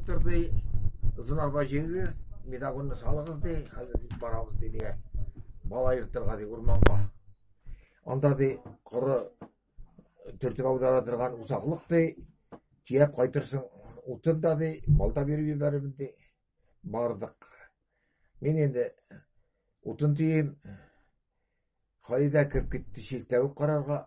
Торды, зынарга җигегез, медагонны салыгыз ди, хәзер китеп барабыз ди миңа. Бала ертырга ди урманга. Анда ди коры төртеп аудара торган усаклык ди, тияп кайтырсың, утын да ди, балта биреп җибәрәбез ди. Бардык. Мин инде утын тием. Халидә кереп китте чиртәвек карарга.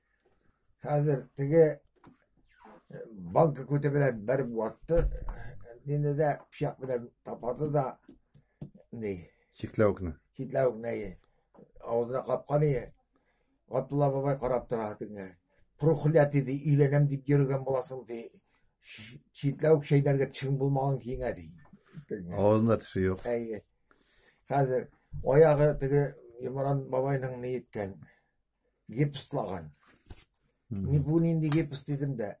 Хәзер теге э, банка күте белән бер ватты. Мине дә пычак белән тапады да ни. Чикләвекне. Чикләвекне авызына капкан ие. Габдулла бабай карап тора тиңе. Прухля диде, өйләнәм дип йөргән буласың ди. Читләүк шәйләргә тешең булмаган киңә ди. Авызында теше юк. Әйе. Хәзер аягы теге Имран бабайның ни иткән. гипслаган. Ни бу нинди гипс дидем дә.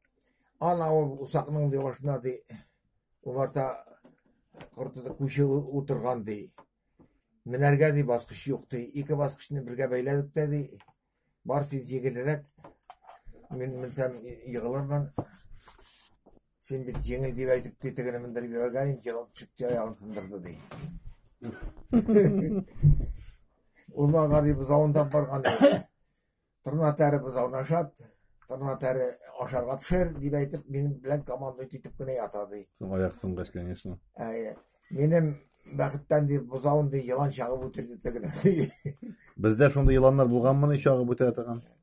Ана ул усакның ди башына ди умарта кортыда күче утырган ди. Менәргә ди баскыч юк ди. Ике баскычны бергә бәйләдек тә ди. Барсы җигелрәк. Мин менсәм егылырмын. Син бит җиңел дип әйтеп тетегенә мендереп җибәргән инде, елап чыкты аягын сындырды ди. Урман гари бозавында барган. Тырна тәре бозавын ашат, тырна тәре ашарга пешер дип әйтеп, минем белән командуй итеп кенә ята ди. Соң аяк сынгач, конечно. Әйе. Минем бәхеттән дип бозавын ди, елан чагып үтерде тегене. Бездә шундый еланнар булганмыни чагып үтә торган?